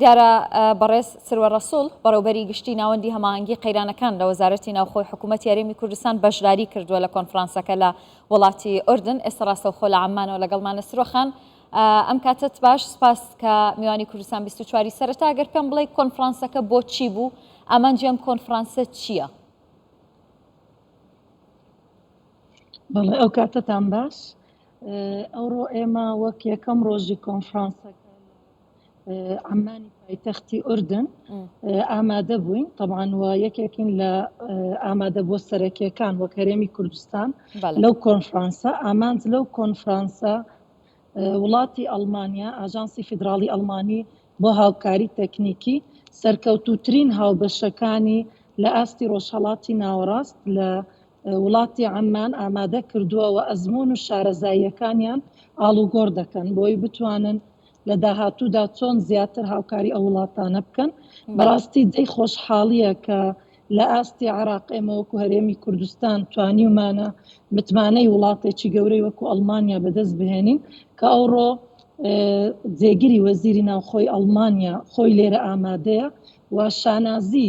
دیارە بەڕێز سروە ڕەسوڵ بەڕێوبەری گشتی ناوەندی هەماهەنگی قەیرانەکان لە وەزارەتی ناوخۆی حکوومەت یاریمی کوردستان بەشداری کردووە لە کۆنفرانسەکە لە وڵاتی ئۆردن ئێستا ڕاستەوخۆ لە عمانەوە لەگەڵمانە سرۆخان ئەم کاتت باش سپاس کە میوانی کوردستان 24واری سەرتا گەر پێم بڵێ کۆنفرانسەکە بۆ چی بوو ئامانجی ئەم کۆنفرانسە چییە؟ بەڵێ ئەو کاتتان باش ئەوڕۆ ئێمە وەک یەکەم ڕۆژی کۆنفرانسەکە عەممانی پایتەختی ئوردن ئامادە بووین تەبان وە یەکێکین لە ئامادە بۆ سەرەکیەکان وە کەرێمی کوردستان لەو کۆنفرانسە ئامانج لەو کۆنفرانسە وڵاتی ئەلمانیا ئاژانسی فیدراڵی ئەلمانی بۆ هاوکاری تەکنیکی سەرکەوتوترین هاوبەشەکانی لە ئاستی ڕۆژهڵاتی ناوەڕاست لە وڵاتی عەممان ئامادە کردووە و ئەزموون و شارەزاییەکانیان ئاڵوگۆڕ دەکەن بۆی بتوانن لە داهاتوودا چۆن زیاتر هاوکاری ئەو وڵاتانە بکەن بەڕاستی جێی خۆشحاڵییە کە لە ئاستی عێراق ئێمە وەکو هەرێمی کوردستان توانیومانە متمانەی وڵاتێکی گەورەی وەکو ئەڵمانیا بەدەست بهێنین کە ئەوڕۆ جێگیری وەزیری ناوخۆی ئەڵمانیا خۆی لێرە ئامادەیە و شانازی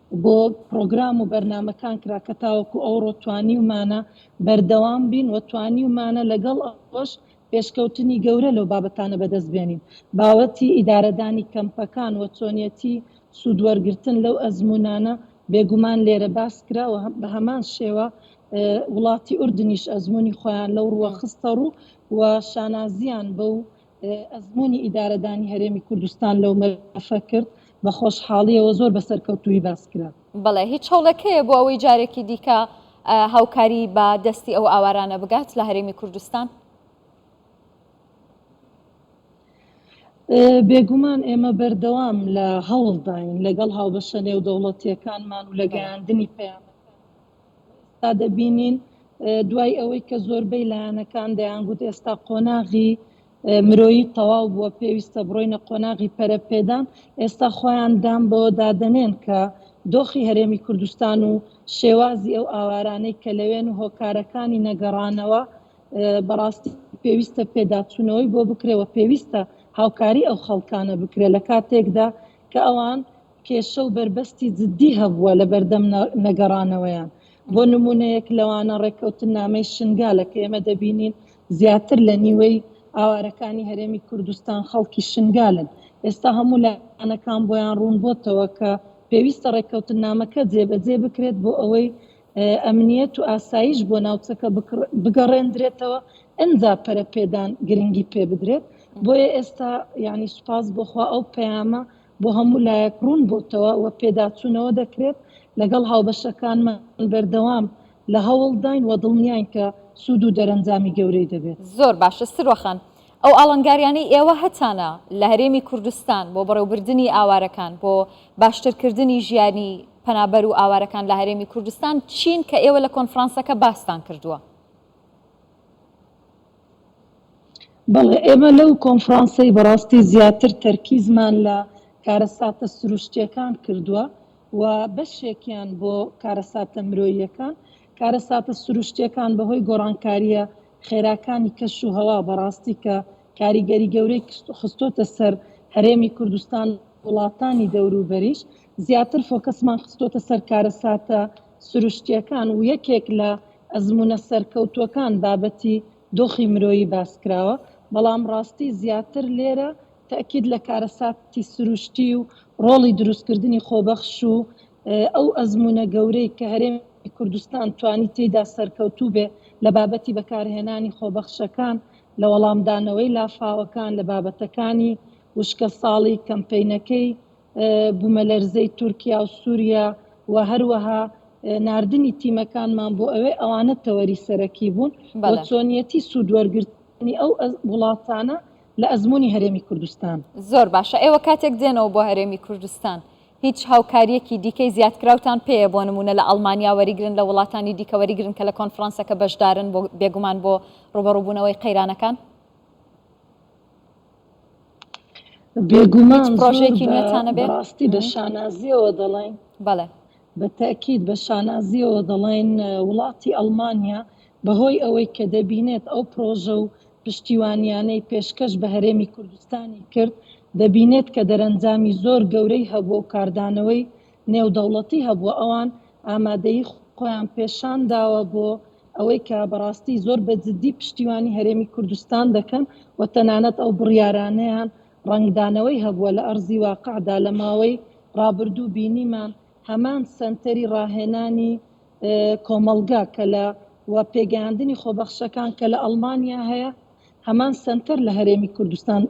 بۆ پڕۆگرام و بەرنامەکان کرا کە تاوەکو ئەوڕۆ توانیومانە بەردەوام بین و توانیومانە لەگەڵ ئەوەش پێشکەوتنی گەورە لەو بابەتانە بەدەست بێنین. بابەتی ئیدارەدانی کەمپەکان و چۆنیەتی سوود وەرگرتن لەو ئەزموونانە بێگومان لێرە باس کرا و بە هەمان شێوە وڵاتی ئوردنیش ئەزموونی خۆیان لەو ڕووە خستەڕوو و شانازییان بەو ئەزموونی ئیدارەدانی هەرێمی کوردستان لەو مەلەفە کرد، بە خۆشحاڵییەوە زۆر بە سەرکەوتوویی باس کرا. بەڵێ، هیچ هەوڵێک هەیە بۆ ئەوەی جارێکی دیکە هاوکاری بە دەستی ئەو ئاوارانە بگات لە هەرێمی کوردستان؟ بێگومان ئێمە بەردەوام لە هەوڵداین لەگەڵ هاوبەشە نێودەوڵەتییەکانمان و لە گەیاندنی پەیامەکان. ئێستا دەبینین دوای ئەوەی کە زۆربەی لایەنەکان دەیانگوت ئێستا قۆناغی مرۆیی تەواو بووە پێویستە بڕۆینە قۆناغی پەرەپێدان ئێستا خۆیان دان بەوە دادەنێن کە دۆخی هەرێمی کوردستان و شێوازی ئەو ئاوارانەی کە لەوێن و هۆکارەکانی نەگەڕانەوە بەڕاستی پێویستە پێداچوونەوەی بۆ بکرێەوە پێویستە هاوکاری ئەو خەڵکانە بکرێت لە کاتێکدا کە ئەوان کێشە و بەربەستی جددی هەبووە لەبەردەم نەگەڕانەوەیان، بۆ نموونەیەک لەوانە ڕێککەوتننامەی شنگالە کە ئێمە دەبینین زیاتر لە نیوەی ئاوارەکانی هەرێمی کوردستان خەڵکی شنگالن، ئێستا هەموو لایەنەکان بۆیان ڕوون بۆتەوە کە پێویستە ڕێککەوتننامەکە جێبەجێ بکرێت بۆ ئەوەی ئەمنیەت و ئاسایش بۆ ناوچەکە بگەڕێندرێتەوە ئەنجا پەرەپێدان گرنگی پێبدرێت بۆیە ئێستا یانی سوپاس بۆخوا ئەو پەیامە بۆ هەموو لایەک ڕوون بۆتەوە و پێداچوونەوە دەکرێت، لەگەڵ هاوبەشەکانمان بەردەوام لە هەوڵداین و دڵنیاین کە سوود و دەرەنجامی گەورەی دەبێت. زۆر باش استرۆ خان، ئەو ئاڵنگاریانەی ئێوە هەتانە لە هەرێمی کوردستان بۆ بەڕێوبردنی ئاوارەکان، بۆ باشترکردنی ژیانی پەنابەر و ئاوارەکان لە هەرێمی کوردستان چین کە ئێوە لە کۆنفرانسەکە باستان کردووە؟ بەڵێ ئێمە لەو کۆنفرانسەی بەڕاستی زیاتر تەرکیزمان لە کارەساتە سروشتیەکان کردوە و بەشێکیان بۆ کارەساتە مرۆییەکان کارەساتە سروشتیەکان بەهۆی گۆڕانکاریە خێراکانی کەش و هەوا بەڕاستی کە کاریگەری گەورەی خستۆتە سەر هەرێمی کوردستان وڵاتانی دەوروبەریش زیاتر فۆکەسمان خستۆتە سەر کارەساتە سروشتییەکان و یەکێک لە ئەزموونە سەرکەوتووەکان بابەتی دۆخی مرۆیی باس کراوە، بەڵام ڕاستی زیاتر لێرە تەئکید لە کارەساتی سروشتی و ڕۆڵی دروستکردنی خۆبەخش و ئەو ئەزموونە گەورەی کە هەرێمی کوردستان توانی تێیدا سەرکەوتوو بێ لە بابەتی بەکارهێنانی خۆبەخشەکان لە وەڵامدانەوەی لافاوەکان لە بابەتەکانی وشکەساڵی کەمپەینەکەی بوومەلەرزەی تورکیا و سووریا و هەروەها ناردنی تیمەکانمان بۆ ئەوێ ئەوانە تەوەری سەرەکی بوون بۆ چۆنیەتی سوودوەرگرتنی ئەو وڵاتانە لە ئەزمموی هەرێمی کوردستان زۆر باشە ئێوە کاتێک دێنەوە بۆ هەرێمی کوردستان هیچ هاوکاریەکی دیکەی زیادکراوتان پێەیە بۆ نمونە لە ئەڵمانیا وەریگرن لە وڵاتانی دیکە وەریگرن کە لە کۆنفرانسەکە بەشدارن بۆ بێگومان بۆ ڕوبەڕوبوونەوەی قەیرانەکان بێگومان هیچ پرۆژێکی زۆر بە نوێتانە بێ بەڕاستی بە شانازیەوە دەڵێین بەڵێ بە تاکیید بە شانازیەوە دەڵێین وڵاتی ئەڵمانیا بەهۆی ئەوەی کە دەبینێت ئەو پرۆژە و پشتیوانیانەی پێشکەش بە هەرێمی کوردستانی کرد دەبینێت کە دەرەنجامی زۆر گەورەی هەبووە و کاردانەوەی نێودەوڵەتی هەبووە ئەوان ئامادەیی خۆیان پێشان داوە بۆ ئەوەی کە بەڕاستی زۆر بە جدی پشتیوانی هەرێمی کوردستان دەکەن و تەنانەت ئەو بڕیارانەیان ڕەنگدانەوەی هەبووە لە ئەرزی واقعدا لە ماوەی ڕابردوو بینیمان هەمان سەنتەری ڕاهێنانی کۆمەڵگا کە لە و پێگەیاندنی خۆبەخشەکان کە لە ئەڵمانیا هەیە هەمان سەنتەر لە هەرێمی کوردستان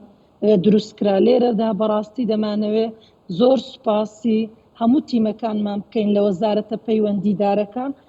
دروست کرا لێرەدا بەڕاستی دەمانەوێ زۆر سوپاسی هەموو تیمەکانمان بکەین لە وەزارەتە پەیوەندیدارەکان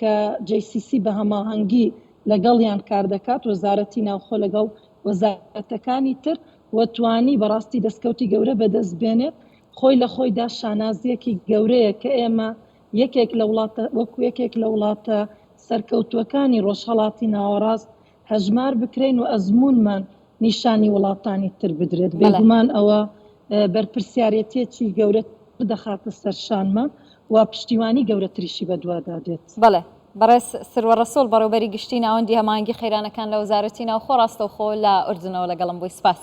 کە جەی سی سی بە هەماهەنگی لەگەڵیان کاردەکات، وەزارەتی ناوخۆ لەگەڵ وەزارەتەکانی تر و توانی بەڕاستی دەستکەوتی گەورە بەدەست بێنێت، خۆی لە خۆیدا شانازییەکی گەورەیە کە ئێمە یەکێک لە وڵاتە وەکو یەکێک لە وڵاتە سەرکەوتووەکانی ڕۆژهەڵاتی ناوەڕاست هەژمار بکرێین و ئەزموونمان نیشانی وڵاتانی تر بدرێت، بێگومان ئەوە بەرپرسیارێتییەکی گەورەتر دەخاتە سەر شانمان و پشتیوانی گەورەتریشی بەدوادا دێت. بەڵێ. بەڕێز سروە ڕەسوڵ، بەڕێوەبەری گشتیی ناوەندی هەماهەنگی قەیرانەکان لە وەزارەتی ناوخۆ ڕاستەوخۆ لە ئوردنەوە لەگەڵم بووی. سپاس.